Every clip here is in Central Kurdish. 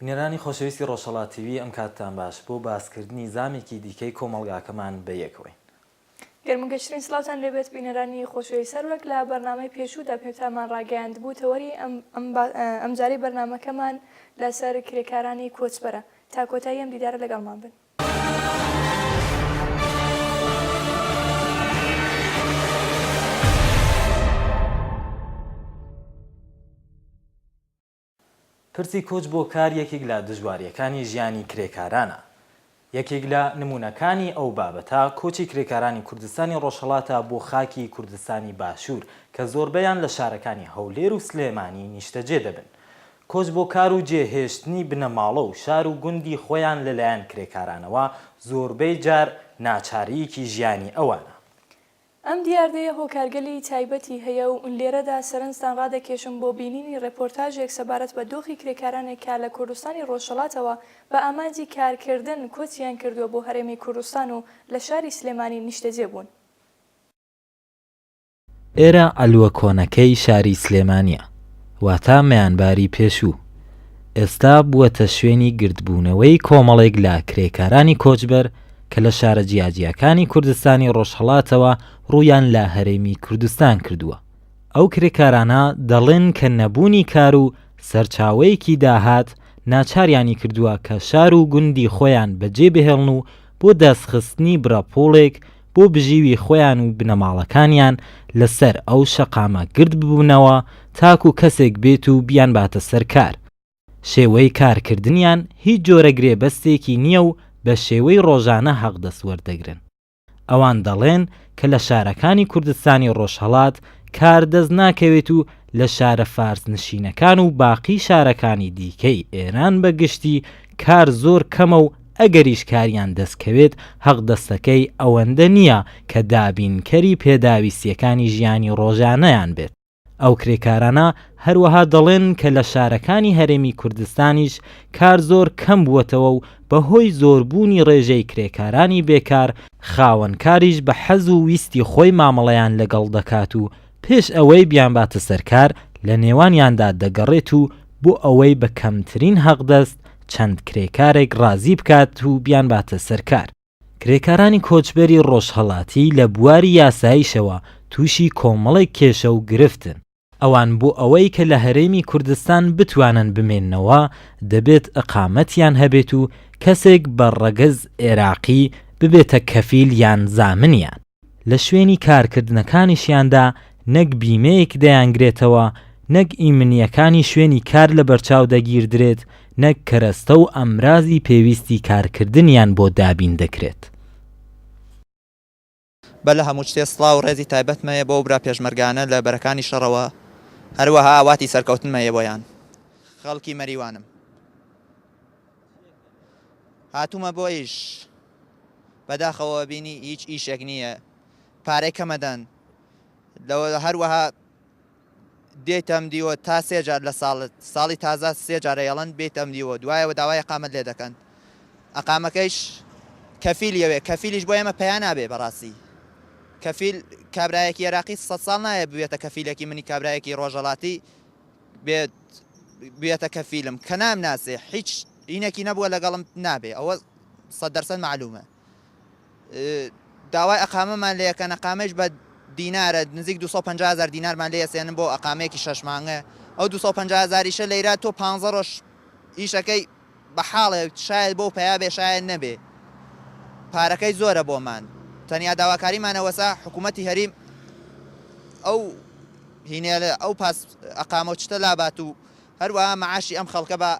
بینەرانی خۆشەویستی ڕۆژهەڵات تیڤی ئەم کاتتان باش بۆ باسکردنی زامێکی دیکەی کۆمەڵگاکەمان بەیەکەوەین. گەرموگەشترین سڵاوتان لێ بێت بینەرانی خۆشەویست هەر وەک لە بەرنامەی پێشوودا پێتامان ڕاگەیاندبوو تەوەری ئەم جارەی بەرنامەکەمان لە سەر کرێکارانی کۆچبەرە تا کۆتایی ئەم دیدارە لەگەڵمان بن. پرسی کۆچ بۆ کار یەکیک لە دژوارییەکانی ژیانی کرێکارانە. یەکیک لە نموونەکانی ئەو بابەتە، کۆچی کرێکارانی کوردستانی ڕۆژهەڵاتە بۆ خاکی کوردستانی باشوور کە زۆربەیان لە شارەکانی هەولێر و سلێمانی نیشتەجێ دەبن. کۆچ بۆ کار و جێهێشتنی بنەماڵە و شار و گوندی خۆیان لە لایەن کرێکارانەوە زۆربەی جار ناچارییەکی ژیانی ئەوانە. ئەم دیاردەیە هۆکارگەلی تایبەتی هەیە و لێرەدا سەرنجتان ڕادەکێشم بۆ بینینی ڕێپۆرتاژێک سەبارەت بە دۆخی کرێکارانێک کە لە کوردستانی ڕۆژهەڵاتەوە بە ئامانجی کارکردن کۆچیان کردووە بۆ هەرێمی کوردستان و لە شاری سلێمانی نیشتەجێ بوون. ئێرە عەلوە کۆنەکەی شاری سلێمانییە، واتە مەیانباری پێشوو، ئێستا بووەتە شوێنی گردبوونەوەی کۆمەڵێک لە کرێکارانی کۆچبەر کە لە شارە جیاجیاکانی کوردستانی ڕۆژهەڵاتەوە ڕوویان لە هەرێمی کوردستان کردووە، ئەو کرێکارانە دەڵێن کە نەبوونی کار و سەرچاوەیەکی داهات ناچاریانی کردووە کە شار و گوندی خۆیان بەجێ بهێڵن و بۆ دەستخستنی بڕە پووڵێک بۆ بژیوی خۆیان و بنەماڵەکانیان لەسەر ئەو شەقامە گرد ببنەوە تاکو کەسێک بێت و بیانباتە سەر کار. شێوەی کارکردنیان هیچ جۆرە گرێبەستێکی نییە و بە شێوەی ڕۆژانە هەقدەست وەردەگرن. ئەوان دەڵێن کە لە شارەکانی کوردستانی ڕۆژهەڵات کار دەست ناکەوێت و لە شارە فارسنشینەکان و باقی شارەکانی دیکەی ئێران بە گشتی کار زۆر کەمە و ئەگەریش کاریان دەست کەوێت هەقدەستەکەی ئەوەندە نییە کە دابینکەری پێداویستییەکانی ژیانی ڕۆژانەیان بێت. ئەو کرێکارانە هەروەها دەڵێن کە لە شارەکانی هەرێمی کوردستانیش کار زۆر کەم بووەتەوە و بەهۆی زۆربوونی ڕێژەی کرێکارانی بێکار، خاوەن کاریش بە حەز و ویستی خۆی مامەڵەیان لەگەڵ دەکات و پێش ئەوەی بیانباتە سەر کار لە نێوانیاندا دەگەڕێت و بۆ ئەوەی بە کەمترین هەقدەست چەند کرێکارێک ڕازی بکات و بیانباتە سەر کار، کرێکارانی کۆچبەری ڕۆژهەڵاتی لە بواری یاساییشەوە تووشی کۆمەڵێک کێشە و گرفتن، ئەوان بۆ ئەوەی کە لە هەرێمی کوردستان بتوانن بمێننەوە دەبێت ئیقامەتیان هەبێت و کەسێک بە ڕەگەز عێراقی ببێتە کەفیل یان زامنیان. لە شوێنی کارکردنەکانیشیاندا نەک بیمەیەک دەیانگرێتەوە، نەک ئیمنییەکانی شوێنی کار لەبەرچاو دەگیردرێت، نەک کەرەستە و ئامرازی پێویستی کارکردنیان بۆ دابین دەکرێت. بەر لە هەموو شتێ سڵاو و ڕێزی تایبەتمە یە بۆ ئەو برا پێشمەرگانە لە بەرەکانی شەڕەوە، هەروەها ئاواتی سەرکەوتنمە یە بۆیان. خەڵکی مەریوانم. هاتوومە بۆ ئیش. بەداخەوە بینی هیچ ئیشێک نییە پارەی کەمەدەن لەوە هەروەها دێتەم دیوە تا سێ جار لە ساڵ ساڵی تازە سێ جارە یڵەن بێتەم دیوە دوایەوە داوای قامەت لێ دەکەن ئەقامەکەیش کەفیل یەوێ کەفیلیش بۆ ئێمە پیا نابێ بەڕاستی کەفیل کابراایەکی عێراقی سە ساڵ نایە بوێتە کەفیلەکی منی کابراایەکی ڕۆژەڵاتی بێت بێتە کەفیلم کە نام ناسێ هیچ هینەکی نەبووە لەگەڵم نابێ ئەوە سەد دەرسەد مەعلومە داوای ئەقامەمان لێ یەکەن ئەقامەیش بە دینارە نزیک 250 هزار دینارمان لێ سێنن بۆ ئەقامەیەکی شەش مانگە ئەو 250 هزاریشە لەیرا تۆ پ ڕۆژ ئیشەکەی بە حاڵێک شاید بۆ پیا بێ شاید نەبێ پارەکەی زۆرە بۆمان تەنیا داواکاریمانەوەسا حکوومەتتی هەریم ئەو هینێ ئەو پاس ئەقامە چتە لابات و هەروە مەعاشی ئەم خەڵکە بە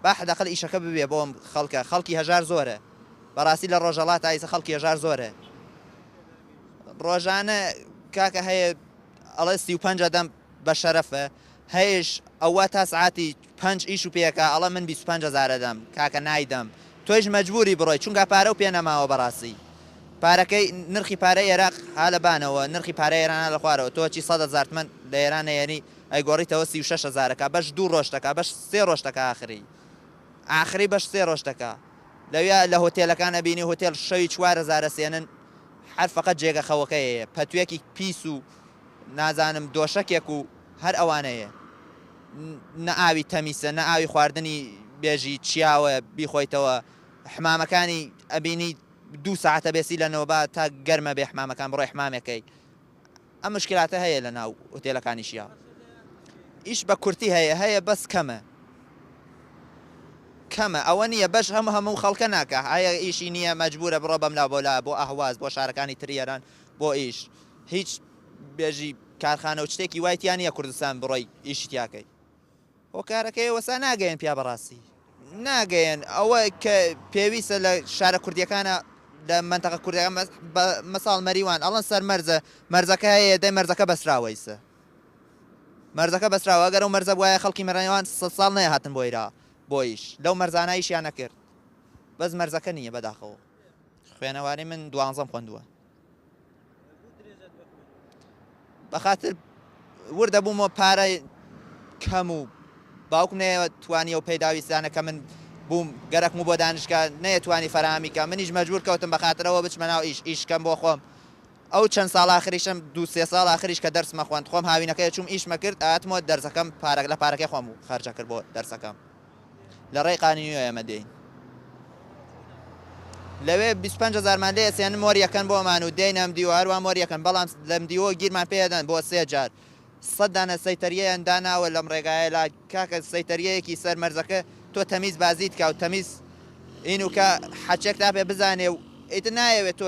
با حەداقل ئیشەکە ببێ بۆم خەڵکە خەڵکی هەژار زۆرە بەڕاستی لە ڕۆژەڵات ئایسە خەڵکی هەژار زۆرە ڕۆژانە کاکە هەیە ئەڵێ سی و پەنج ئەدەم بە شەرەفە هەیش ئەوە تا سعاتی پەنج ئیش و پێکە ئەڵە من بیست و پەنج هەزار ئەدەم کاکە نایدەم تۆیش مەجبوری بڕۆی چونکا پارە و پێ نەماوە بەڕاستی پارەکەی نرخی پارەی ئێراق ها لە بانەوە نرخی پارەی ئێران ها لە خوارەوە تۆ چی سەد هەزار تمەن لە ئێران نەیەنی ئەیگۆڕیتەوە سی و شەش هەزارەکا بەش دوو ڕۆژ دەکا بەش سێ ڕۆژ دەکا ئاخری ئاخری بەش سێ ڕۆژ دەکا لەویا لە هۆتێلەکان ئەبینی هۆتێل شەوی چوار هەزار ئەسێنن هەر فەقەت جێگە خەوەکەیەیە پەتوێکی پیس و نازانم دۆشەکێک و هەر ئەوانەیە نە ئاوی تەمیسە نە ئاوی خواردنی بێژی چیاوە بیخۆیتەوە حمامەکانی ئەبینی دوو ساعتە بێسی لە نۆبا تا گەرمە بێ حمامەکان بڕۆی حمامەکەی ئەم مشکلاتە هەیە لە ناو هوتێلەکانیشیا ئیش بە کورتی هەیە هەیە بەس کەمە کەمە ئەوە نییە بەش هەموو هەموو خەڵکە ناکە هەیە ئیشی نییە مەجبورە بڕۆ بەم لا بۆلا بۆ ئەهواز بۆ شارەکانی تری ئێران بۆ ئیش هیچ بێژی کارخانە و شتێکی وای تیا نییە کوردستان بڕۆی ئیشی تیاکەی هۆکارەکەی ئەوەسا ناگەیەن پیا بەڕاستی ناگەیەن ئەوە کە پێویستە لە شارە کوردیەکانە لە منتەقە کوردەکان مەساڵ مەریوان ئەڵەن سەر مەرزە مەرزەکە هەیە دەی مەرزەکە بەسراوەیسە مەرزەکە بەسراوە گەرە و مەرزە وایە خەڵکی مەڕێوان سە ساڵ نەیە هاتن بۆیرا بۆیش لەو مەرزانایشیان نەکرد بەس مەرزەکە نییە بەداخەوە خوێنەواری من دوانزەم خوندووە بەخاتر وردە بووم و پارە کەم و باوکم نەیە توانی و پێداویستانە کە من بووم گەرەکم و بۆ دانیشگا نەیە توانی فەرامی کە منیش مەجبور کەوتم بەخاترەوە بچمە ناو ئیش ئیش کەم بۆ خۆم ئەو چەند ساڵ ئاخریشم دوو سێ ساڵ ئاخریش کە دەرسمە خوند خۆم هاوینەکەی چوم ئیشمە کرد ئاتمۆ دەرزەکەم پارەک لە پارەکەی خۆم و خەرجە کرد بۆ دەرسەکەم. لە ڕێی قانیو ئێمە دێین لەوێ بیست و پەنج هەزارمان لێ ئەسێنن مۆر یەکەن بۆمان و دێینە ئەمدیوە هەروان مۆر یەکەن بەڵام لە ئەمدیوە گیرمان پێ ئەدەن بۆ سێ جار سەد دانە سەیتەریەیان داناوە لەم ڕێگایە لا کاکە سەیتەریەیەکی سەر مەرزەکە تۆ تەمیز بازیت کا و تەمیز ئینوکە حەچەک تا پێ بزانێ و ئیتر نایەوێت تۆ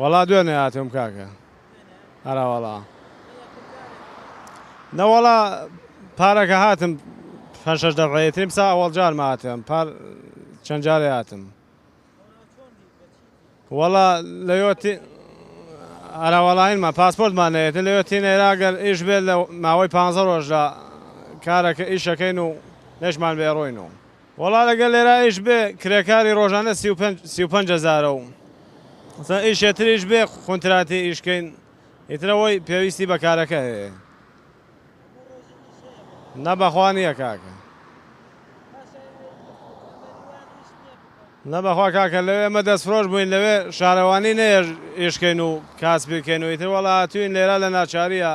وەڵا دوێنێ هاتووم کاکە ئەرەوەڵا نەوەڵا پارەکە هاتم پێنج شەش دەفعەیە تریم سا ئەوەڵ جارم هاتم پار چەند جارێ هاتم وەڵا لەوەتی ئەرەوەڵاینمە پاسپۆرتمان نەیەت لەوەتی نێراگەر ئیش بێت لە ماوەی پ ڕۆژدا کارەکە ئیشەکەین و نەشمان بێڕۆین و وەڵا لەگەر لێرا ئیش بێ کرێکاری ڕۆژانە سی و پێنج سی و پەنج هەزارە و مەسەلەن ئیشێ تریش بێ خونتراتی ئیش کەین ئیتر ئەوەی پێویستی بە کارەکە هەیە نە بەخوا نییە کاکە نە بەخوا کاکە لەوێ ئێمە دەستفرۆش بووین لەوێ شارەوانی نەیە ئیش کەین و کاسبی کەین و ئیتر وەڵا هاتووین لێرا لە ناچارییە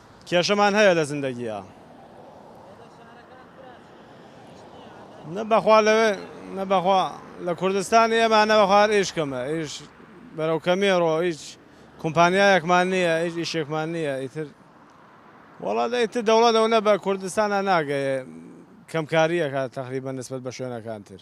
کێشەمان هەیە لە زندەگییا. نە بەخوا لەوێ نە بەخوا لە کوردستانی ئێمە نە بەخوا هەر ئیش کەمە ئیش بەرەو کەمێڕۆ هیچ کومپانیایەکمان نییە هیچ ئیشێکمان نییە ئیتر وەڵا دە ئیتر دەوڵەت ئەوەنە بە کوردستانا ناگەیێ کەمکارییەکە تەقریبەن نسبەت بە شوێنەکان تر.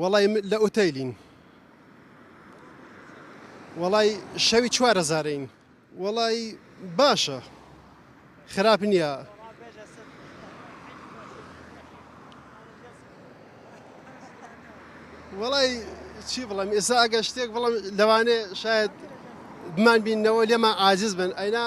وەڵای م لە ئوتەیلین. وەڵای شەوی چوار هەزارەین. وەڵای باشە خراپ نییە. وەڵای چی بڵێم ئێستا ئەگەر شتێک بڵێم لەوانێ شاید بمان بینەوە لێمان عاجز بن ئەینا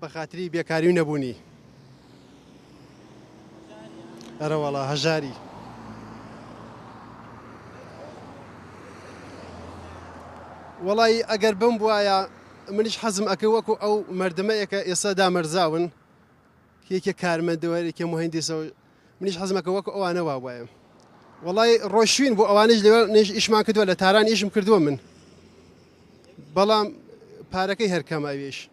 بە خاتری بێکاری و نەبوونی. ئەرەوەڵا هەژاری. وەڵایی ئەگەر بم بواە منیش حەزم ئەکە وەکو ئەو مردمەیەکە ئێستا دامەرزاون یەکێک کارمەندەوەێکی مهندسەوە منیش حەزمەکە وەکو ئەوانە وا وایە وەڵی ڕۆشوین بۆ ئەوانش لێ نێژ ئیشمان کردووە لە تاران ئیشم کردووە من بەڵام پارەکەی هەرکەمە ئەوێش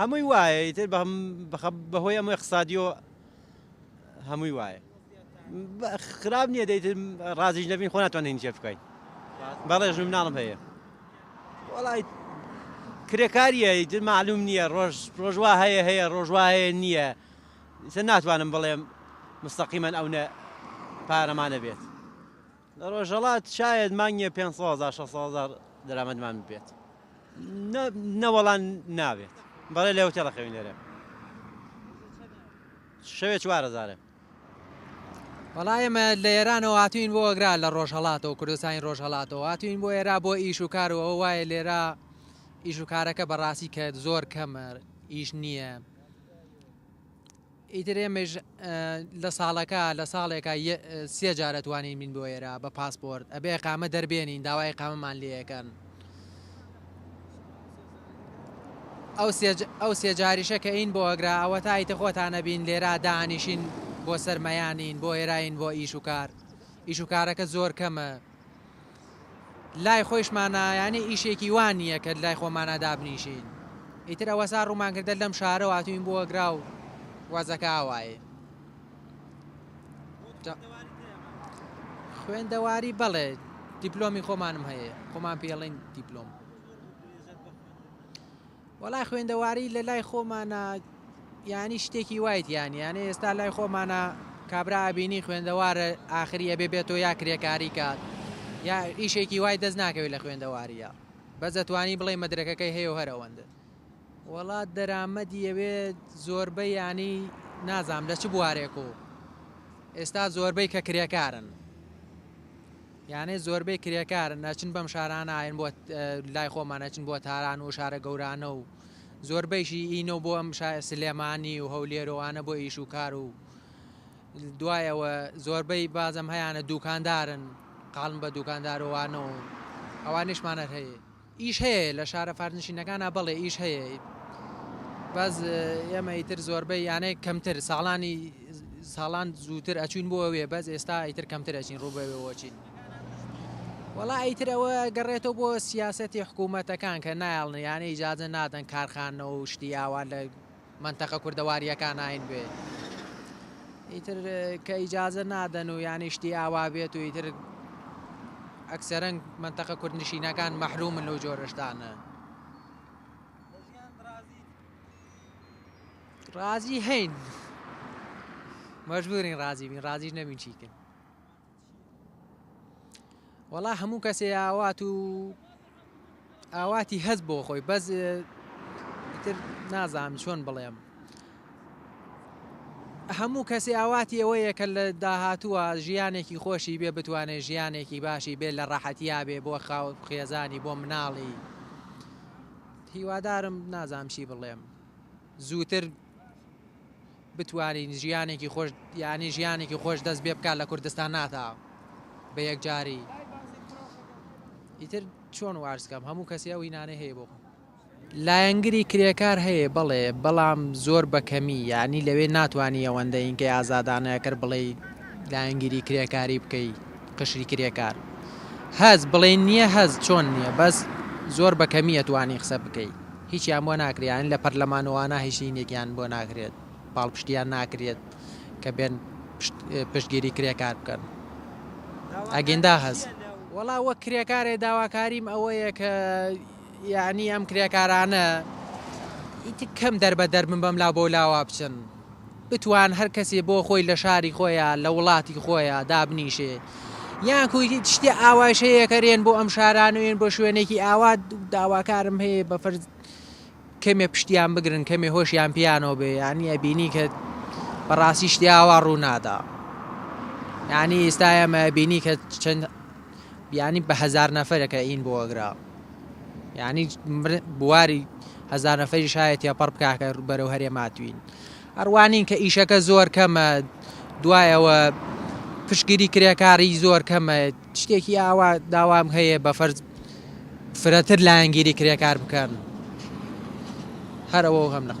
هەمووی وایە ئیتر بەهۆی ئەمە اقتصادیۆ هەمووی وایە خراپ نییە دەیت ڕازیش نەبین خۆ ناتوانین جێ بکەین بەڵێژ مناڵم هەیە وڵی کرێکاریە ئیتر معلوم نییە ڕۆژ ڕۆژوا هەیە هەیە ڕۆژوا هەیە نییە سە ناتوانم بڵێم مستەقیمەن ئەو نە پارەمانە بێت لە ڕۆژهەڵات شایەد مانگیە پێنج سەد هەزار شەش سەد هەزار دەرامەدمان ببێت نە وەڵا نابێت بەڵێ لە هۆتێڵە خەوین لێرە شەوێ چوار هەزارە وەڵا ئێمە لە ئێرانەوە هاتوین بۆ ئەگرا لە ڕۆژهڵاتەوە کوردستانی ڕۆژهڵاتەوە هاتوین بۆ ئێرا بۆ ئیش و کار و ئەو وایە لێرا ئیش و کارەکە بەڕاستی کە زۆر کەمە ئیش نییە ئیتر ئێمەیش لە ساڵەکە لە ساڵێکا سێ جار ئەتوانین بین بۆ ئێرە بە پاسپۆرت ئەبێ ئیقامە دەربێنین داوای ئیقامەمان لێ ئەکەن ئەو سێ جاریشە کە ئین بۆ ئەگرا ئەوەتا ئیتر خۆتانە بین لێرا دانیشین بۆ سەرمەیانین بۆ ئێراین بۆ ئیش و کار ئیش و کارەکە زۆر کەمە لای خۆیش مانا یانێ ئیشێکی وا نییە کە لای خۆمانا دابنیشین ئیتر ئەوەسا ڕوومان کردە لەم شارە واتوین بۆ گراو وەزەکە ئاوایە خوێندەواری بەڵێ دیپلۆمی خۆمانم هەیە خۆمان پێڵین دیپلۆم وەڵای خوێندەواری لە لای خۆمانا یانی شتێکی وای تیان یانە ئێستا لای خۆمانە کابرا ئەبینی خوێندەوارە ئاخری ئەبێ بێتۆ یا کرێکاری کات یا ئیشێکی وای دەست ناکەوێت لە خوێندەواریە بەس ئەتوانی بڵێ مەدرەکەکەی هەیە هەر ئەوەندە وڵات دەرامەدی ئەوێ زۆربە ینی نازام لە چ بوارێک و ئێستا زۆربەی کە کرێکارن یانێ زۆربەی کرێکارن ئەچن بەم شارانە ئاین بۆ لای خۆمان ئەچن بۆ تاران و شارە گەورانە و زۆربەیشی ئینە و بۆ ئەم سلێمانی و هەولێرەوانە بۆ ئیش و کار و دوای ئەوە زۆربەی بازم هەیەە دوکاندارن قالم بە دوکاندارۆوانە و ئەوانیشمانەر هەیە ئیش هەیە لە شارە فارسنشینەکانا بەڵێ ئیش هەیە بەس ئێمە ئیتر زۆربەی یانە کەمتر ساڵانی ساڵان زووتر ئەچوین بۆ ئەوێ بەس ئێستا ئیتر کەمتر ئەچین ڕوو بەوێوەچین وڵا ئیتر ئەوە گەڕێتەوە بۆ سیاستی حکوومەتەکان کە نایڵن یانە ئیجاازە نادەن کارخانەوە و شتی ئاوا لە مەنتەقە کوردەواریەکاناین بێ ئیتر کە ئیجازە نادەن و یانی شتی ئاوا بێت و ئیتر ئەکسەرەنگ مەنتەقە کوردنشینەکان مەحرومن لەو جۆرەشتانە ڕازی هەین مەژبورین ڕازی بین ڕازیش نەبین چیکن وەڵا هەموو کەسێ ئاوات و ئاواتی هەز بۆ خۆی بەس تر نازانم چۆن بڵێم هەموو کەسی ئاواتی ئەوەیە کە لە داهاتووە ژیانێکی خۆشی بێ بتوانێت ژیانێکی باشی بێ لە ڕەحەتیا بێ بۆ خاو خێزانی بۆ مناڵی هیوادارم نازانام چی بڵێم زووتر بتوانین ژیانێکی خۆش یانی ژیانێکی خۆش دەست بێ بکات لە کوردستان ناتا بە یەکجاری ئیتر چۆن وارسکەم هەموو کەسی ئەو هینانەی هەیە بۆ خۆم لایەنگری کرێکار هەیە بەڵێ بەڵام زۆر بەکەمی یانی لەوێ ناتوانانی ئەوەندە ئینکەی ئازادانەکەر بڵێ لایەنگیری کرێکاری بکەی قشری کرێکار هەز بڵێ نییە هەز چۆن نییە بەس زۆر بەکەمیە توانی قسە بکەیت. هیچیان بۆ ناکرێت یان لە پەرلەمانوانە هیچ لینێکیان بۆ ناکرێت پاڵپشتیان ناکرێت کە بێن پشتگیری کرێکار بکەن ئەگیندا هەست وەڵا وەک کرێکارێ داواکاریم ئەوەیە کە یعنی ئەم کرێکارانە ئیتر کەم دەربەدەر بن بەم لا بۆ لاوا بچن بتوان هەر کەسێ بۆ خۆی لە شاری خۆیا لە وڵاتی خۆیا دابنیشێ یان کوی شتێ ئاوایش هەیە کەرێن بۆ ئەم شارانوێن بۆ شوێنێکی ئاوا داواکارم هەیە بە فەرز کەمێ پشتیان بگرن کەمێ هۆشیان پیانەوە بێ یانی ئەبینی کە بەڕاستی شتێ ئاوا ڕوونادا یانی ئێستا ئەمە بینی کە چەند یانی بە هەزار نەفەرێکە ئین بۆ ئەگرا یانی بواری هەزار نەفەری شایە تێپەڕ بکاکە بەرەو هەرێ ماتوین ئەڕوانین کە ئیشەکە زۆر کەمە دوایەوە پشگیری کرێکاری زۆر کەمە شتێکی ئاوا داوام هەیە بە فەرز فرەتر لایەنگیری کرێکار بکەن هەرەوە هەم نەخ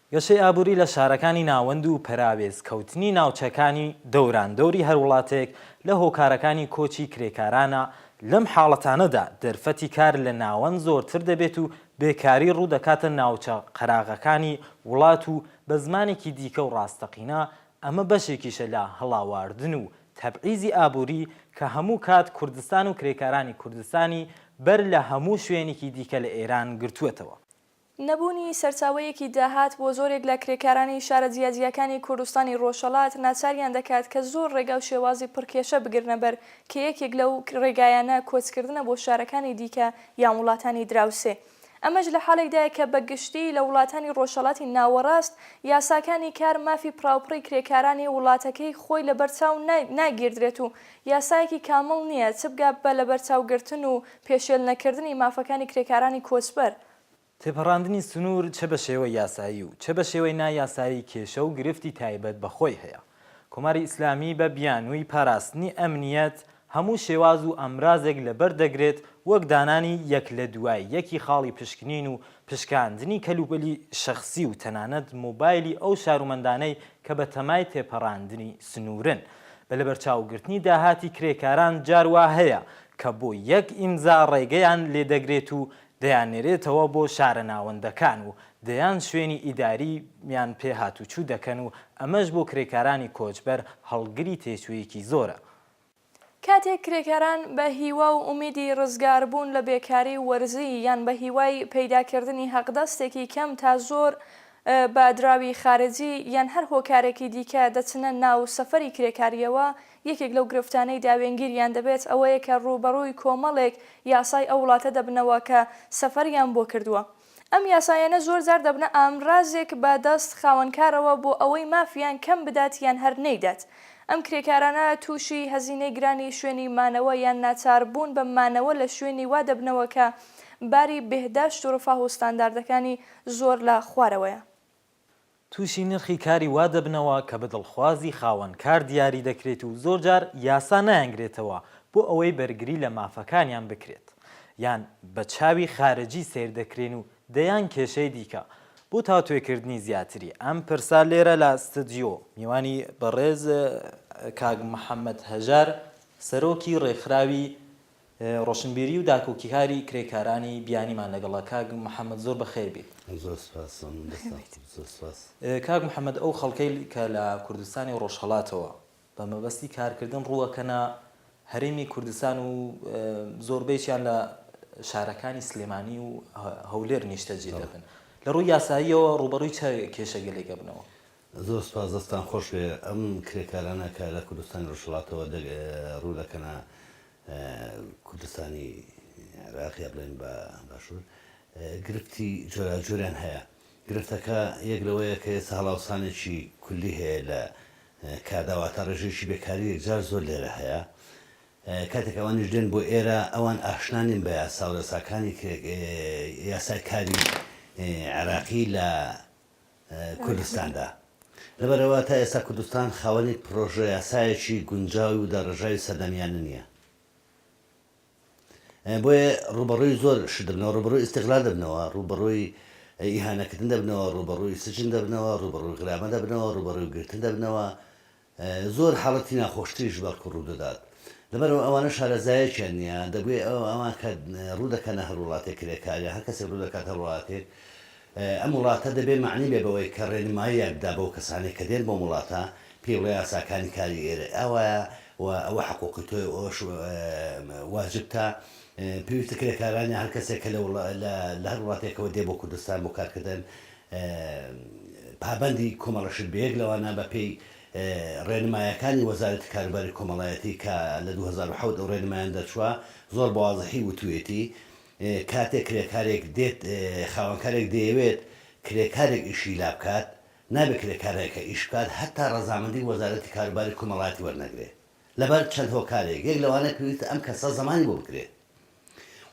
گەشەی ئابووری لە شارەکانی ناوەند و پەراوێز کەوتنی ناوچەکانی دەوران دەوری هەر وڵاتێک لە هۆکارەکانی کۆچی کرێکارانە، لەم حاڵەتانەدا دەرفەتی کار لە ناوەند زۆرتر دەبێت و بێکاری ڕوو دەکاتە ناوچە قەراغەکانی وڵات و بە زمانێکی دیکە و ڕاستەقینە ئەمە بەشێکیشە لە هەڵاواردن و تەبعیزی ئابووری کە هەموو کات کوردستان و کرێکارانی کوردستانی بەر لە هەموو شوێنیکی دیکە لە ئێران گرتووەتەوە. نەبوونی سەرچاوەیەکی داهات بۆ زۆرێک لە کرێکارانی شارە جیاجیاکانی کوردستانی ڕۆژهەڵات ناچاریان دەکات کە زۆر ڕێگا و شێوازی پڕ کێشە بگرنە بەر کە یەکێک لەو ڕێگایانە کۆچکردنە بۆ شارەکانی دیکە یان وڵاتانی دراوسێ ئەمەش لە حاڵێکدایە کە بە گشتی لە وڵاتانی ڕۆژهەڵاتی ناوەڕاست یاساکانی کار مافی پڕاوپڕی کرێکارانی وڵاتەکەی خۆی لە بەر چاو ناگیردرێت و یاسایەکی کامڵ نییە چ بگا بە لەبەرچاوگرتن و پێشێل نەکردنی مافەکانی کرێکارانی کۆچبەر. تێپەڕاندنی سنوور چە بە شێوەی یاسایی و چە بە شێوەی نا یاسایی کێشە و گرفتی تایبەت بە خۆی هەیە. کۆماری ئیسلامی بە بیانووی پاراستنی ئەمنییەت هەموو شێواز و ئامرازێک لە بەر دەگرێت وەک دانانی یەک لە دوای یەکی خاڵی پشکنین و پشکاندنی کەلوپەلی شەخسی و تەنانەت مۆبایلی ئەو شارومەندانەی کە بە تەمای تێپەڕاندنی سنوورن بە لەبەرچاوگرتنی داهاتی کرێکاران جار وا هەیە کە بۆ یەک ئیمزا ڕێگەیان لێ دەگرێت و دەیاننێرێتەوە بۆ شارە ناوەندەکان و دەیان شوێنی ئیدارییان پێ هاتووچوو دەکەن و ئەمەش بۆ کرێکارانی کۆچبەر هەڵگری تێچوویەکی زۆرە. کاتێک کرێکاران بە هیوا و ئومیدی ڕزگاربوون لە بێکاری و وەرزی یان بە هیوای پەیداکردنی حەقدەستێکی کەم تا زۆر بە دراوی خارجی یان هەر هۆکارێکی دیکە دەچنە ناو سەفەری کرێکارییەوە، یەکێک لەو گرفتانەی داوێنگیریان دەبێت ئەوەیە کە ڕووبەڕووی کۆمەڵێک یاسای ئەو وڵاتە دەبنەوە کە سەفەریان بۆ کردووە. ئەم یاسایانە زۆرجار دەبنە ئامرازێک بە دەست خاوەنکارەوە بۆ ئەوەی مافیان کەم بدات یان هەر نەیدات. ئەم کرێکارانە تووشی هەزینەی گرانی شوێنی مانەوە یان ناچاربوون بە مانەوە لە شوێنی وا دەبنەوە کە باری بێهداشت و ڕفاه و ستانداردەکانی زۆر لە خوارەوەیە. تووشی نرخی کاری وا دەبنەوە کە بە دڵخوازی خاوەن کار دیاری دەکرێت و زۆرجار یاسا نایانگرێتەوە بۆ ئەوەی بەرگری لە مافەکانیان بکرێت یان بە چاوی خارجی سەیر دەکرێن و دەیان کێشەی دیکە. بۆ تاوتوێکردنی زیاتری ئەم پرسە لێرە لە ستدیۆ میوانی بەڕێز کاک محەمەد هەژار سەرۆکی ڕێکخراوی ڕۆشنبیری و داکۆکیکاری کرێکارانی بیانیمان لەگەڵە کاک محمد زۆر بەخێر بیت. زۆر سوپاس زۆمن دەستان خۆش زۆر سوپاس. کاک محمد ئەو خەڵکەی کە لە کوردستانی و ڕۆژهەڵاتەوە بە مەبەستی کارکردن ڕووەکەنە هەرێمی کوردستان و زۆربەیچیان لە شارەکانی سلێمانی و هەولێر نیشتەجێ دەبن لە ڕووی یاساییەوە ڕووبەڕووی چ کێشەگەلێک ئەبنەوە؟ زۆر سوپاس دەستان خۆشبێ ئەم کرێکارانە کە لە کوردستانی ڕۆژهەڵاتەوە ڕوو دەکەنە کوردستانی عێراق یا بڵێن بە باشوور گرفتی جۆراجۆریان هەیە گرفتەکە یەک لەوەیە کە ئێستا هەڵاوسانێکی کولی هەیە لە کاردا واتە ڕێژەیەکی بێکاری یەکجار زۆر لێرە هەیە کاتێک ئەوانیش دێن بۆ ئێرە ئەوان ئاشنا نین بە یاسا و یاساکانی یاسای کاری عێراقی لە کوردستاندا. لەبەرئەوە تا ئێستا کوردستان خاوەنی پرۆژەیاسایەکی گونجاوی و داڕێژراوی سەردەمیانە نییە. بۆیە ڕووبەڕووی زۆر شت دەبنەوە، ڕووبەڕووی ئیستیغلال دەبنەوە، ڕووبەڕووی ئیهانەکردن دەبنەوە، ڕووبەڕووی سجن دەبنەوە، ڕووبەڕووی غرامە دەبنەوە، ڕووبەڕووی گرتن دەبنەوە، زۆر حاڵەتی ناخۆشتریش بەڵکو ڕوودەدات، لەبەرئەوە ئەوانە شارەزایەکیان نییە، دەبوێ ئەو ئەوان کە ڕوودەکەنە هەر وڵاتێک کرێکار یان هەر کەسێک ڕوودەکاتە هەر وڵاتێک، ئەم وڵاتە دەبێ مەعنی بێ بەوەی کە ڕێنماییاک بدا بەو کەسانەی کە دێن بۆم وڵاتە، پێی بڵێ یاساکانی کاری ئێرە ئاوایە و ئەوە حقووقی تۆیە و ئەوەش واجبتە، پێویستە کرێکاران یان هەر کەسێک کە لە هەر وڵاتێکەوە دێ بۆ کوردستان بۆ کارکردن، پابەندی کۆمەڵەشن بە یەک لەوانە بە پێی ڕێنمایەکانی وەزارەتی کاروباری کۆمەڵایەتی کە لە دوو هەزار و حەوت ئەو ڕێنمایان دەرچووە زۆر بە وازحی وتویەتی کاتێک کرێکارێک دێت خاوەنکارێک دەیەوێت کرێکارێک ئیشی لا بکات نابێت کرێکارێکە ئیش بکات هەتا ڕەزامەندی وەزارەتی کاروباری کۆمەڵایەتی وەرنەگرێت لەبەر چەند هۆکارێک یەک لەوانە پێویستە ئەم کەسە زەمانی بۆ بکرێت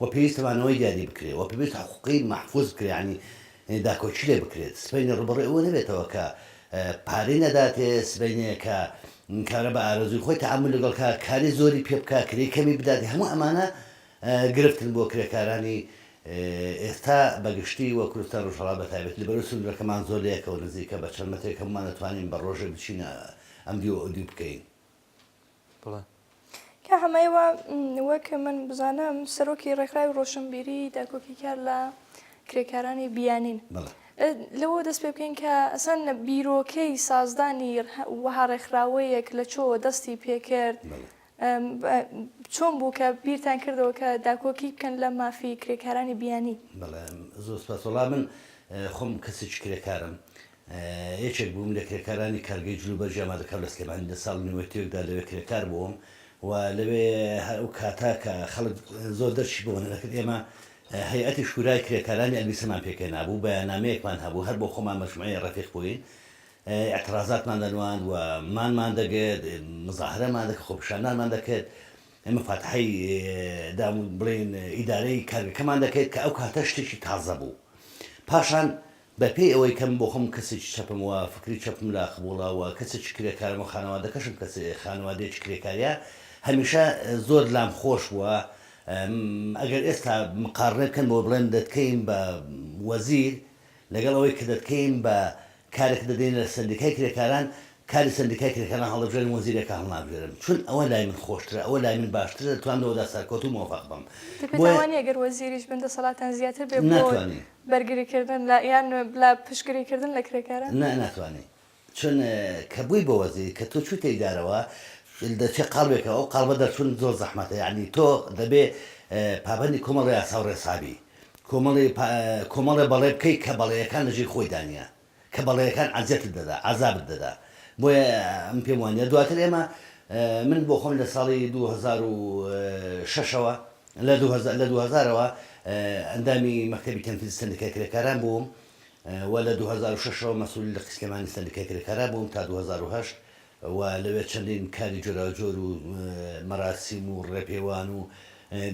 وە پێویستە مانەوەی دیاری بکرێت وە پێویست حقوقی مەحفوز بکرێت یانی داکۆکی لێ بکرێت سبەینێ ڕوبەڕوی ئەوە نەبێتەوە کە پارەی نەداتێ سبەینێ کە کارە بە ئارەزوی خۆی تەعامول لەگەڵ کا کاری زۆری پێ بکا کرێی کەمی بداتێ هەموو ئەمانە گرفتن بۆ کرێکارانی ئێستا بە گشتی وە کوردستان ڕۆژهەڵات بە تایبەتی لەبەرو سنورەکەمان زۆر لەیەکەوە نزیکە بە چەند مەترێک هەموومان ئەتوانین بە ڕۆژێ بچینە ئەم دیو ئەو دیو بکەین بڵێ. کا حەمەیەوە وەک من بزانم سەرۆکی ڕێکخراوی ڕۆشنبیری داکۆکیکار لە کرێکارانی بیانین. بەڵێ. لەوە دەست پێ بکەین کە ئەسەن بیرۆکەی سازدانی وەها ڕێکخراوەیەک لە چۆوە دەستی پێ کرد؟ بەڵێ. چۆن بوو کە بیرتان کردەوە کە داکۆکی بکەن لە مافی کرێکارانی بیانی؟ بەڵێ زۆر سوپاس. وەڵا من خۆم کەسێکی کرێکارم یەکێک بووم لە کرێکارانی کارگەی جلوبەرگی ئامادەکراو لە سلێمانی، لە ساڵ و نیوەی تێکدا لەوێ کرێکار بووم و لەوێ هەر ئەو کاتە کە خەڵک زۆر دەرچی بۆ نەدەکرد ئێمە هەیئەتی شورای کرێکارانی ئەلبیسەمان پێکهێنابوو، بەیاننامەیەکمان هەبوو، هەر بۆ خۆمان مەجموعەی ڕەفیق بووین، ئیعترازاتمان دەنواند و مانمان دەگرت، مزاهرەمان دەکرد، خۆپیشاندانمان دەکرد، مفاتحەی دام و بڵێین ئیدارەی کارگەکەمان دەکرد کە ئەو کاتە شتێکی تازە بوو. پاشان بە پێی ئەوەی کە من بۆ خۆم کەسێکی چەپم و فکری چەپم لا قبوڵە و کەسێکی کرێکارم و خانەوادەکەشم کەس خانەوادەیەکی کرێکاریە هەمیشە زۆر لام خۆش بووە م ئەگەر ئێستا مقاڕنەی بکەن بەوەی بڵێن دەتکەین بە وەزیر لەگەڵ ئەوەی کە دەتکەین بە کارێک دەدەینە لە سەندیکای کرێکاران کاری سەندیکای کرێکاران هەڵدەبژێرم وەزیرێکە هەڵنابژێرم چون ئەوە لای من خۆشترە ئەوە لای من باشترە دەتوانم لەوەدا سەرکەوتوو مۆفەق بم دەبێت بۆیە ئەوانیە گەر وەزیریش بن دەسەڵاتیان زیاتر بێ بۆ ناتوانین بەرگریکردن لە یان لە پشتگریکردن لە کرێکاران؟ نا ناتوانێ چون کە بووی بە وەزیر کە تۆ چوویتە ئیدارەوە دەچێ قاڵبێکەوە ئەو قاڵبە دەرچوون زۆر زەحمەتە یانی تۆ دەبێ پابەندی کۆمەڵی یاسا و ڕێسابی کۆمەڵی کۆمەڵێ بەڵێ بکەی کە بەڵێیەکان لە ژێی خۆی دانیە کە بەڵێنەکان ئەزیەتت دەدا عەزابت دەدا بۆیە من پێم وانیە دواتر ئێمە من بۆ خۆم لە ساڵی دوو هەزار و شەش ەوە لە دوو هەزار لە دوو هەزار ەوە ئەندامی مەکتەبی تەنفیزی سەندیکای کرێکاران بووم و لە دوو هەزار و شەش ەوە مەسولی لقی سلێمانی سەندیکای کرێکارا بووم تا دوو هەزار و هەشت و لەوێ چەندین کاری جۆراوجۆر و مەراسیم و ڕێپێوان و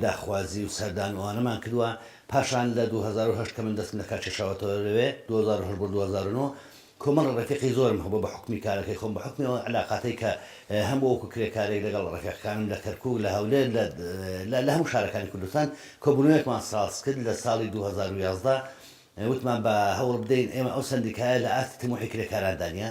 داخوازی و سەردان و ئەوانەمان کردوە پاشان لە دوو هەزار و هەشت کە من دەستم لەکار کێشاوەتەوە لەوێ دوو هەزار و هەشت بۆ دوو هەزار و نۆ کۆمەڵێ ڕێفیقی زۆرم هەبوە بە حوکمی کارەکەی خۆم بە حوکمی ئەو عەلاقاتەی کە هەم بوە وەکو کرێکارێک لەگەڵ ڕێفیقەکانم لە کەرکوک لە هەولێر لە لە لە هەموو شارەکانی کوردستان کۆبونەوەیەکمان ساز کرد لە ساڵی دوو هەزار و یازدە وتمان با هەوڵ بدەین ئێمە ئەو سەندیکایە لە ئاستی تموحی کرێکاراندا نیە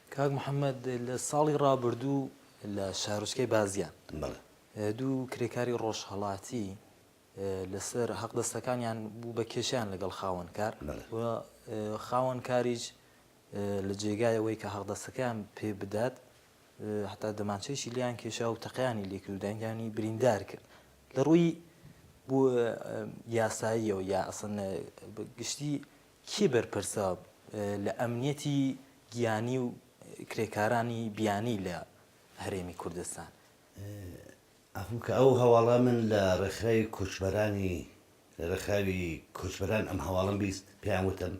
کاک محەمەد لە ساڵی ڕابردوو لە شارۆچکەی بازیان دوو کرێکاری ڕۆژهەڵاتی لەسەر هەقدەستەکانیان بوو بە کێشیان لەگەڵ خاوەنکار و خاوەنکاریش لە جێگایەوەی کە هەقدەستەکەیان پێ بدات حتا دەمانچەیشی لیان کێشا و تەقیانی لێکرد و دەنگیانی بریندار کرد لە ڕووی بۆ یاساییەوە یا ئەسن گشتی کێ بەرپرسە لە ئەمنیەتی گیانی و کرێکارانی بیانی لە هەرێمی کوردستان؟ عەفو بکە ئەو هەواڵە من لە ڕێکخراوی کۆچبەرانی لە ڕێکخراوی کۆچبەران ئەم هەواڵەم بیست پێیان وتم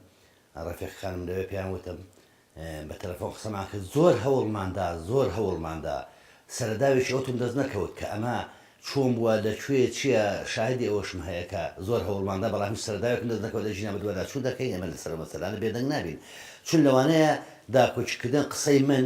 ڕەفیق خانم لەوێ پێیان وتم بە تەلەفۆن قسەمان کرد زۆر هەوڵمان دا زۆر هەوڵمان دا سەرەداوێکی ئەوتۆم دەست نەکەوت کە ئەمە چۆن بووە لە کوێ چیە شاهیدی ئەوەشم هەیە کە زۆر هەوڵمان دا بەڵام هیچ سەرەداوێکم دەست نەکەوت لە ژینا بە دوادا چوو دەکەین ئێمە لەسەر ئەو مەسەلانە بێدەنگ نابین چون لەوانەیە داکۆکی کردن قسەی من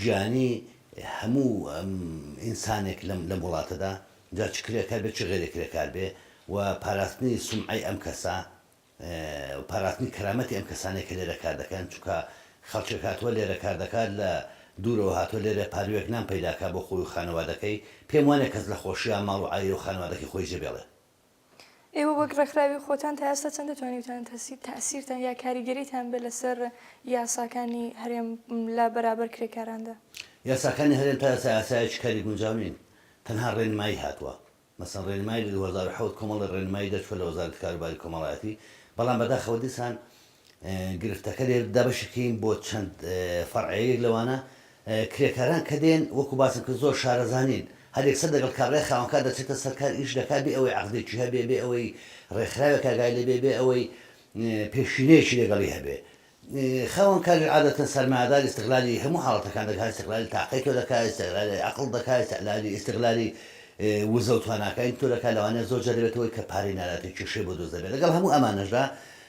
گیانی هەموو ئینسانێک لەم لەم وڵاتەدا جا چ کرێکار بێ چ غەیرە کرێکار بێ و پاراستنی سومعەی ئەم کەسە و پاراستنی کەرامەتی ئەم کەسانەی کە لێرە کار دەکەن چونکە خەڵکێک هاتوە لێرە کار دەکات لە دوورەوە هاتوە لێرە پاروێک نان پەیداکا بۆ خۆی و خانەوادەکەی پێم وانیە کەس لە خۆشیا ماڵ و عایلە و خانەوادەکەی خۆی جێ بێڵێ ئێوە وەک ڕێکخراوی خۆتان تا ئێستا چەند دەتوانیوتان تاسیرتان یا کاریگەریتان بێ لەسەر یاساکانی هەرێم لە بەرابەر کرێکاراندا؟ یاساکانی هەرێم تا ئێستا یاسایەکی کاری گونجاو نین، تەنها ڕێنمایی هاتووە، مەسەن ڕێنمایی لە دوو هەزار و حەوت کۆمەڵێ ڕێنمایی دەرچووە لە وەزارەتی کاروباری کۆمەڵایەتی، بەڵام بەداخەوە دیسان گرفتەکە لێرە دابەشیکەین بۆ چەند فەرعێ یەک لەوانە کرێکاران کە دێن وەکو باسم کرد زۆر شارەزانین هەر یەکسەر دەگەڵ کابرای خاوەنکار دەچێتە سەر کار ئیش دەکات بێ ئەوەی عەقدێکی هەبێ بێ ئەوەی ڕێکخراوێک ئاگای لێبێ بێ ئەوەی پێشینەیەکی لەگەڵی هەبێ خاوەنکاری عادەتەن سەرمایەدار ئیستغلالی هەموو حاڵەتەکان دەکات ئیستغلالی تاقەی تۆ دەکات ئیستغلالی عەقڵ دەکات ئیستغلالی ئیستغلالی وزە و تواناکانی تۆ دەکات لەوانەیە زۆر جار دەبێتەوەی کە پارەی ناداتێ کێشەی بۆ دروست دەبێت لەگەڵ هەموو ئەمانەشدا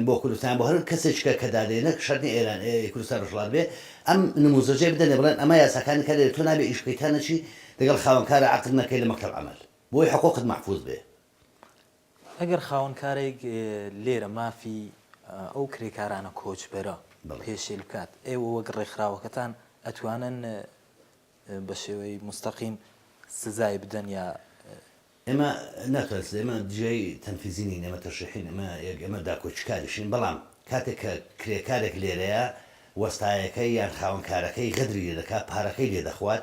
ن بۆ کوردستان بۆ هەر کەسێکیکە کە دادێ نەک شەرت نیە ئێران ی کوردستان ڕۆژهەڵات بێ ئەم نموزەجەی بدەنێ بڵێن ئەمە یاساکانی کەنەێ تۆ نابێ ئیش بکەی تا نەچی لەگەڵ خاوەن کارە عەقد نەکەی لە مەکتەب عەمەل بۆی حقوقت مەحفوز بێ. ئەگەر خاوەن کارێک لێرە مافی ئەو کرێکارانە کۆچبەرە پێشێل بکات ئێوە وەک ڕێکخراوەکەتان ئەتوانن بە شێوەی مستەقیم سزای بدەن یا ئێمە ناتوانین سزا، ئێمە جێی تەنفیزی نین، ئێمە تەشریحین، ئێمە یەک، ئێمە داکۆکیکاریشین، بەڵام کاتێک کە کرێکارێک لێرەیە وەستایەکەی یان خاوەن کارەکەی غەدری لێ دەکات، پارەکەی لێ دەخوات،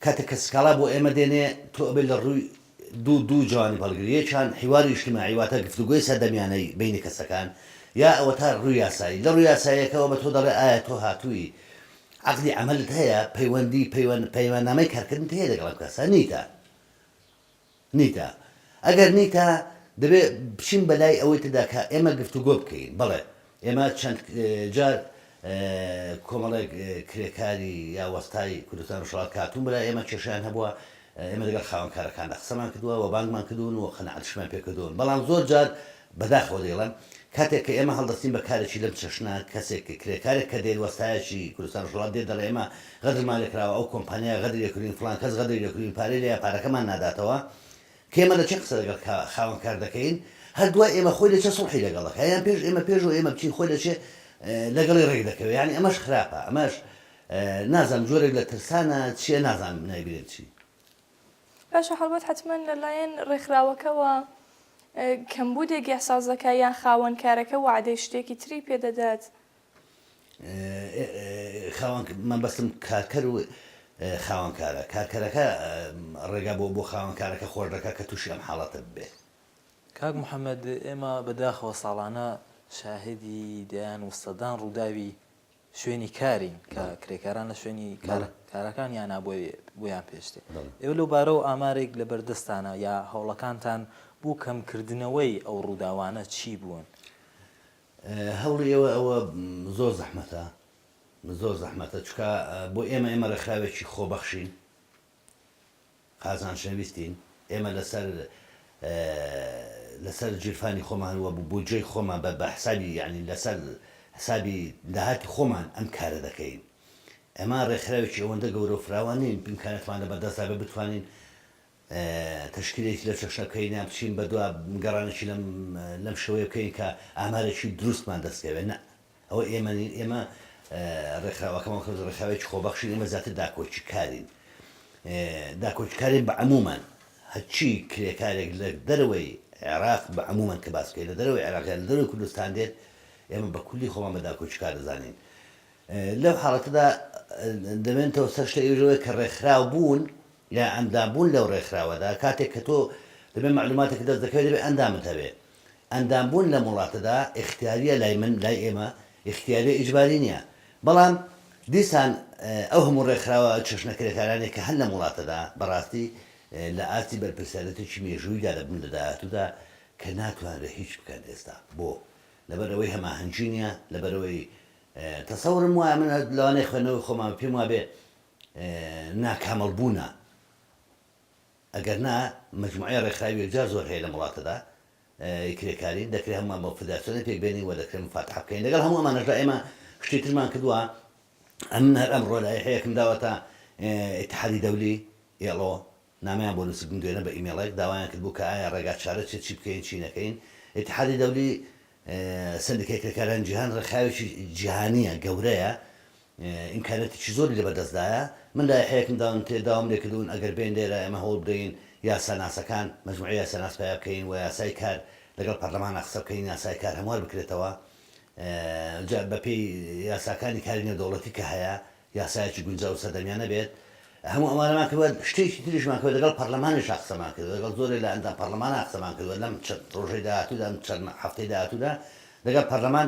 کاتێک کە سکاڵا بۆ ئێمە دێنێ، تۆ ئەبێ لە ڕووی دوو دوو جوانب هەڵگری، یەکیان حیواری ئیجتیماعی واتە گفتوگۆی سەردەمیانەی بەینی کەسەکان، یا ئەوەتا ڕووی یاسایی، لە ڕووی یاساییەکەوە بە تۆ دەڵێ ئایا تۆ هاتووی عەقدی عەمەلت هەیە، پەیوەندی، پەیوەند، پەیماننامەی کارکردنت هەیە لەگەڵ ئەم کەسە، نیتە، نیتە، ئەگەر نیتە، دەبێ بچین بە لای ئەوەی تردا کە ئێمە گفتوگۆ بکەین. بەڵێ، ئێمە چەند جار کۆمەڵێک کرێکاری یا وەستای کوردستان ڕۆژهەڵات کە هاتوون بەلای ئێمە کێشەیان هەبووە، ئێمە لەگەڵ خاوەنکارەکاندا قسەمان کردووە و بانگمان کردوون و قەناعەتیشمان پێ کردوون، بەڵام زۆر جار بەداخەوە دەیڵێم کاتێک کە ئێمە هەڵدەستین بە کارێکی لەم چەشنە کەسێک کرێکارێک کە دێت وەستایەکی کوردستان ڕۆژهەڵات دێت دەڵێ ئێمە غەدرمان لێ کراوە ئەو کۆمپانیا غەدری لێ کردووین فڵان کەس غەدری لێ کردووین پارەی لێیە پارەکەمان ناداتەوە کە ئێمە لە چێ قسە لەگەڵ خاوەن کار دەکەین هەر دوای ئێمە خۆی لە چێ سوڵحی لەگەڵ دەکا یان پێش ئێمە پێش ئەوەی ئێمە بچین خۆی لە چێ لەگەڵی ڕێک دەکەوێ یانی ئەمەش خراپە ئەمەش نازانم جۆرێک لە ترسانە چیە نازانم نایبینم چی. باشە هەڵبەت حەتمەن لەلایەن ڕێکخراوەکەوە کەمبوودێک یاسازەکە یان خاوەن کارەکە وەعدەی شتێکی تری پێ دەدات؟ خاوەن مەبەستم کارکەر و خاوەن کارە، کارکەرەکە ڕێگا بۆ بۆ خاوەن کارەکە خۆش دەکات کە تووشی ئەم حاڵەتە ببێت. کاک محەمەد ئێمە بەداخەوە ساڵانە شاهیدی دەیان و سەدان ڕووداوی شوێنی کارین کە کرێکاران لە شوێنی کارەکان یانا بۆیان پێشتێ ئێوە لەو بارەوە ئامارێک لە بەردەستانە یا هەوڵەکانتان بوو کەمکردنەوەی ئەو ڕووداوانە چی بوون؟ هەوڵی ئێوە ئەوە زۆر زەحمەتە زۆر زەحمەتە چکە بۆ ئێمە ئێمە ڕێکخراوێکی خۆبەخشین قازان شەویستین ئێمە لەسەر لەسەر جیرفانی خۆمان وە بودجەی خۆمان بە بەحسابی یانی لەسەر حسابی داهاتی خۆمان ئەم کارە دەکەین ئەمە ڕێکخراوێکی ئەوەندە گەورە و فراوان نین ئیمکاناتمان لە بەردەستدا بێ بتوانین تەشکیلێکی لەو چەشنە بکەین یان بچین بە دوا گەڕانێکی لەم لەم شێوەیە بکەین کە ئامارێکی دروستمان دەستکەوێت نە ئەوە ئێمە نین، ئێمە ڕێکخراوەکەمان وەکو ڕێکخراوێکی خۆبەخشین، ئێمە زیاتر داکۆکیکارین، داکۆکیکارین بە عموومەن، هەرچی کرێکارێک لە دەرەوەی عێراق بە عموومەن کە باس بکەین لە دەرەوەی عێراق یان لە دەرەوەی کوردستان دێت، ئێمە بە کولی خۆمان بە داکۆکیکار دەزانین. لەو حاڵەتەدا دەمێنێتەوە سەر شتە ئێوەش لەوەی کە ڕێکخراو بوون یا ئەندام بوون لەو ڕێکخراوەدا، کاتێک کە تۆ دەبێ مەعلووماتێکت دەست دەکەوێت دەبێ ئەندامت هەبێ، ئەندام بوون لەم وڵاتەدا ئیختیاریە لای من لای ئێمە ئیختیاریە ئیجباری نیە بەڵام دیسان ئەو هەموو ڕێکخراوە چەشنە کرێکارانەی کە هەن لەم وڵاتەدا بەڕاستی لە ئاستی بەرپرسیارەتێکی مێژوویدا دەبن لە داهاتوودا کە ناتوانرێ هیچ بکەن ئێستا بۆ لەبەر ئەوەی هەماهەنگی نیە لەبەرەوەی تەسەورم وایە من لەوانەی خوێنەوەی خۆمان پێم وابێ ناکامەڵ بوونە ئەگەر نا مەجموعەی ڕێکخراوی یەکجار زۆر هەیە لەم وڵاتەدا ی کرێکارین، دەکرێت هەمووان بە فدراسیۆنێک پێک بێنین و دەکرێت مفاتحە بکەین، لەگەڵ هەموو ئەمانەشدا ئێمە شتی ترمان کردووە، ئەمن هەر ئەمڕۆ لایحەیەکم داوەتە ئیتحادی دەولی، ئێڵۆ، نامەیان بۆ نووسبووم دوێنە بە ئیمێڵێک، داوایان کردبوو کە ئایا ڕێگا چارە چیە چی بکەین چی نەکەین، ئیتحادی دەولی سەندیکای کرێکارانی جیهان ڕێکخراوێکی جیهانییە گەورەیە، ئیمکانیاتێکی زۆری لەبەردەستدایە، من لایحەیەکم داونتێ داوام لێکردوون ئەگەر بێین لێرە ئێمە هەوڵ بدەین یاساناسەکان، مەجموعەی یاساناس پەیا بکەین و یاسای کار لەگەڵ پەرلەمانا قسە بکەین یاسای کار هەموار بکرێتەوە جا بەپێی یاساکانی کاری نێودەوڵەتی کە هەیە یاسایەکی گونجاو و سەردەمیانە بێت، هەموو ئەمانەمان کردووە، شتێکی تریشمان کردووە لەگەڵ پەرلەمانیشا قسەمان کردووە لەگەڵ زۆرێک لە ئەندام پەرلەمانا قسەمان کردووە لەم چەند ڕۆژەی داهاتوودا ئەم چەند هەفتەی داهاتوودا لەگەڵ پەرلەمان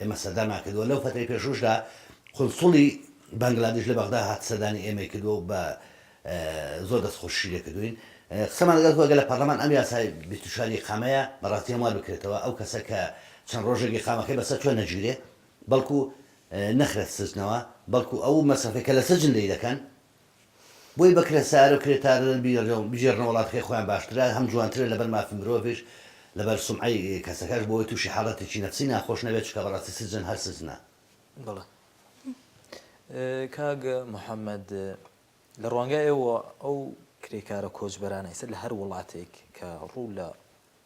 ئێمە سەردامان کردووە، لەو فەترەی پێشووشدا قونسوڵی بەنگلادیش لە بەغدا هات سەردانی ئێمەی کردووە و بە زۆر دەستخۆشیشی لێ کردووین. قسەمان لەگەڵ کردووە گەر لە پەرلەمان ئەم یاسای بیست و چوار ئیقامەیە بە ڕاستی هەموار بکرێتەوە، ئەو کەسە کە چەند ڕۆژێک ئیقامەکەی بەسەر چووە نەگیرێ بەڵکوو نەخرێت سجنەوە، بەڵکوو ئەو مەسرەفەی کە لە سجن لێی دەکەن، بۆی بە کرێسارە و کرێتارەن بگێڕنە وڵاتەکەی خۆیان باشترە هەم جوانترە لەبەر مافی مرۆڤیش لەبەر سومعەی کەسەکەش بۆ ئەوەی توشی حاڵەتێکی نەفسی ناخۆش نەبێت چونکە بەڕاستی سجن هەر سجنە. بەڵێ کاک محمد لە ڕوانگای ئێوە ئەو کرێکارە کۆچبەرانەی سەر لە هەر وڵاتێک کە ڕوو لە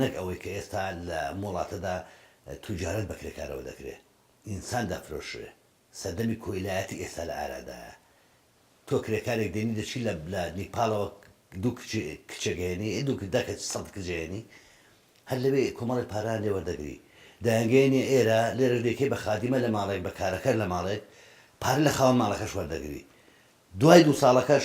نەک ئەوەی کە ئێستا لە ئەم وڵاتەدا توجارەت بە کرێکارەوە دەکرێ، ئینسان دەفرۆشرێ، سەردەمی کۆیلایەتی ئێستا لە ئارادایە، تۆ کرێکارێک دێنی دەچی لە لە نیپاڵەوە دوو کچ کچێک هێنی ئێ دوو دە کچ سەد کچ هێنی هەر لەوێ کۆمەڵێک پارەیان لێ وەردەگری دەیانگەیەنی ئێرە، لێرەش دەیکەی بە خادیمە لە ماڵێک بە کارەکەر لە ماڵێک، پارە لە خاوەن ماڵەکەش وەردەگری دوای دوو ساڵەکەش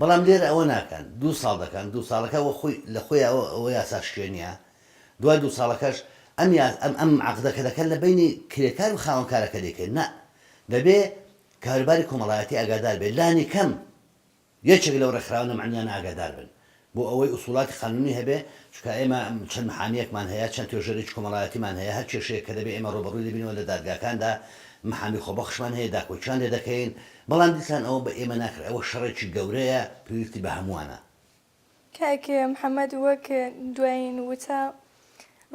بەڵام لێرە ئەوە ناکەن دوو ساڵ دەکەن دوو ساڵەکە وە خۆی لە خۆیەوە ئەوە یاسا شکێنیە دوای دوو ساڵەکەش ئەم یا ئەم ئەم عەقدە کە دەکەن لە بەینی کرێکار و خاوەنکارەکە دەیکەن نا دەبێ کاروباری کۆمەڵایەتی ئاگادار بێ لانی کەم یەکێک لەو ڕێکخراوانە مەعنویانە ئاگادار بن بۆ ئەوەی ئوسوڵاتی قانونی هەبێ، چونکە ئێمە چەند محامییەکمان هەیە، چەند توێژەرێکی کۆمەڵایەتیمان هەیە، هەر کێشەیەک کە دەبێ ئێمە ڕووبەڕووی دەبینەوە لە دادگاکاندا، محامی خۆبەخشمان هەیە، داکۆکییان لێ دەکەین، بەڵام دیسان ئەوە بە ئێمە ناکرێ، ئەوە شەڕێکی گەورەیە، پێویستی بە هەمووانە. کاک محەمەد، وەک دوایین وتە،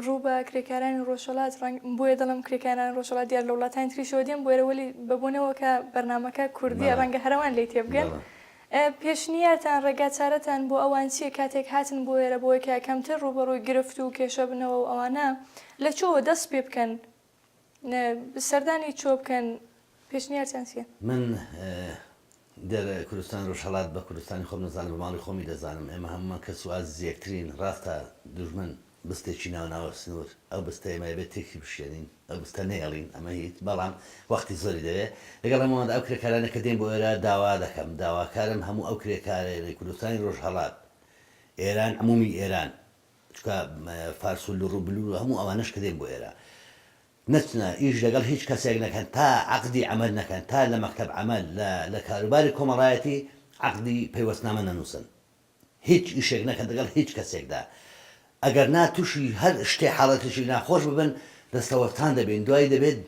ڕوو بە کرێکارانی ڕۆژهەڵات ڕەنگ بۆیە دەڵم کرێکارانی ڕۆژهەڵات دیار لە وڵاتانی تریشەوە دێن بۆێرە وەلی بەبوونەوە کە بەرنمەکە کوردیە ڕەنگە هەرەوان لی تێبگەن پێشنیارتان ڕێگا چارەتان بۆ ئەوان چیە کاتێک هاتن بۆ ئێرە بۆیکە کەمتر ڕووبەڕووی گرفت و کێشە بنەوە و ئەوانە لە چۆوە دەست پێ بکەن سەردانی چۆ بکەن پێشنیارتان چیە؟ من گەر کوردستانی ڕۆژهەڵات بە کوردستانی خۆم نەزانم بە ماڵی خۆمی دەزانم ئێمە هەموومان کەس و ئازیز یەکترین ڕاستە دوژمن بستێکی ناوە ناوە سنوور ئەو بستە ئێمە ئەبێ تێکی بشکێنین ئەو بستە نەیەڵین ئەمە هیچ بەڵام وەختی زۆری دەوێ لەگەڵ هەموواندا ئەو کرێکارانە کە دێن بۆ ئێرە داوا دەکەم داواکارم هەموو ئەو کرێکارەیەنەی کوردستانی ڕۆژهەڵات ئێران عموومی ئێران چونکە فارس و لڕ و بلور و هەموو ئەوانەش کە دێن بۆ ئێرە نەچنە ئیش لەگەڵ هیچ کەسێک نەکەن تا عەقدی عەمەل نەکەن تا لە مەکتەب عەمەل لە لە کاروباری کۆمەڵایەتی عەقدی پەیوەستنامە نەنووسن هیچ ئیشێک نەکەن دەگەڵ هیچ کەسێکدا ئەگەر نا تووشی هەر شتێ حاڵەتێکی ناخۆش ببن دەستەوەستان دەبین دوای دەبێت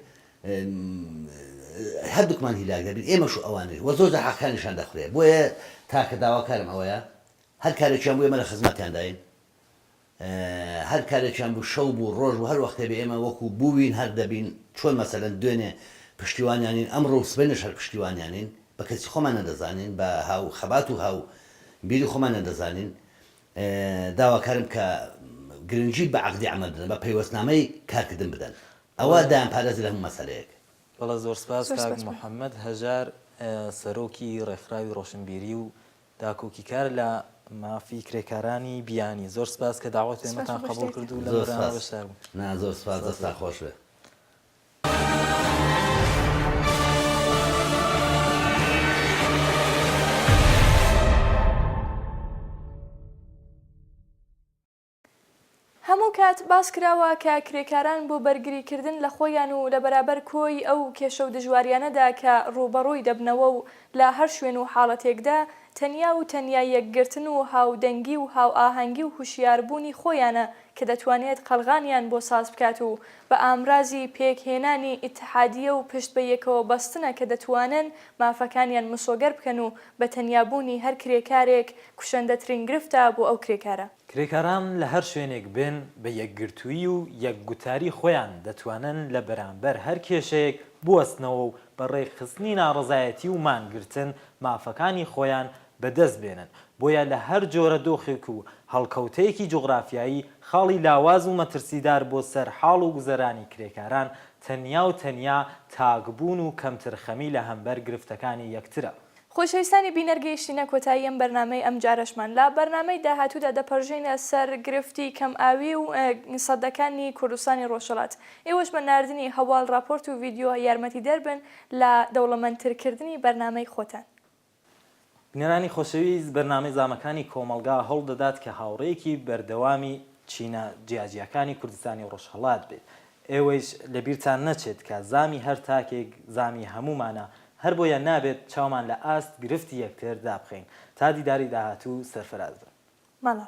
هەردووکمان هیلاک دەبین ئێمەش و ئەوانیش وە زۆر جار حەقەکانیشان دەخورێ بۆیە تاکە داواکارم ئەوەیە هەر کارێکیان بوو ئێمە لە خزمەتیانداین، هەر کارێکیان بوو شەو بوو ڕۆژ بوو هەر وەختێ بێ ئێمە وەکو بووین هەر دەبین، چۆن مەسەلەن دوێنێ پشتیوانیانین ئەمڕۆ و سبەینێش هەر پشتیوانیانین، بە کەسی خۆمان نەدەزانین بە هاو خەبات و هاو بیری خۆمان نەدەزانین، داواکارم کە گرنگی بە عەقدی عەمەل بدەن بە پەیوەستنامەی کارکردن بدەن ئەوە دایانپارێزێ لە هەموو مەسەلەیەک. بەڵێ زۆر سپاس کاک محەمەد هەژار سەرۆکی ڕێکخراوی ڕۆشنبیری و داکۆکیکار لە مافی کرێکارانی بیانی. زۆر سپاس کە داوەتی ئێمەتان قەبوڵ کرد و لەم بەرنامە بەشدار بوون. نا زۆر سپاس دەستان خۆش بێ. هەموو کات باس کراوە کە کرێکاران بۆ بەرگری کردن لە خۆیان و لە بەرابەر کۆی ئەو کێشە و دژواریانەدا کە ڕووبەڕووی دەبنەوە و لە هەر شوێن و حاڵەتێکدا تەنیا و تەنیا یەکگرتن و هاودەنگی و هاوئاهەنگی و هوشیار بوونی خۆیانە کە دەتوانێت قەڵغانیان بۆ ساز بکات و بە ئامرازی پێک هێنانی ئیتحادیە و پشت بە یەکەوە بەستنە کە دەتوانن مافەکانیان مسۆگەر بکەن و بە تەنیا بوونی هەر کرێکارێک کوشەندەترین گرفتە بۆ ئەو کرێکارە. کرێکاران لە هەر شوێنێک بن بە یەکگرتوویی و یەک گوتاری خۆیان دەتوانن لە بەرامبەر هەر کێشەیەک بوەستنەوە و بە ڕێکخستنی ناڕەزایەتی و مانگرتن مافەکانی خۆیان بە دەست بێنن بۆیە لە هەر جۆرە دۆخێک و هەڵکەوتەیەکی جوغرافیایی خاڵی لاواز و مەترسیدار بۆ سەر حاڵ و گوزەرانی کرێکاران تەنیا و تەنیا تاک بوون و کەمترخەمی لە هەمبەر گرفتەکانی یەکترە خۆشەویستانی بینەر گەیشتینە کۆتایی ئەم بەرنامەی ئەم جارەشمان لە بەرنامەی داهاتوودا دەپەرژێینە سەر گرفتی کەم ئاوی و سەدەکانی کوردستانی ڕۆژهەڵات ئێوەش بە ناردنی هەواڵ ڕاپۆرت و ڤیدیۆ یارمەتیدەر بن لە دەوڵەمەند تر کردنی بەرنامەی خۆتان. بینەرانی خۆشەویست بەرنامەی زامەکانی کۆمەڵگا هەوڵ دەدات کە هاوڕێیەکی بەردەوامی چینە جیاجیاکانی کوردستانی ڕۆژهەڵات بێت ئێوەیش لە بیرتان نەچێت کە زامی هەر تاکێک زامی هەموومانە، هەر بۆیە نابێت چاومان لە ئاست گرفتی یەکتر دابخەین. تا دیداری داهاتوو سەرفراز بن. بەڵێ.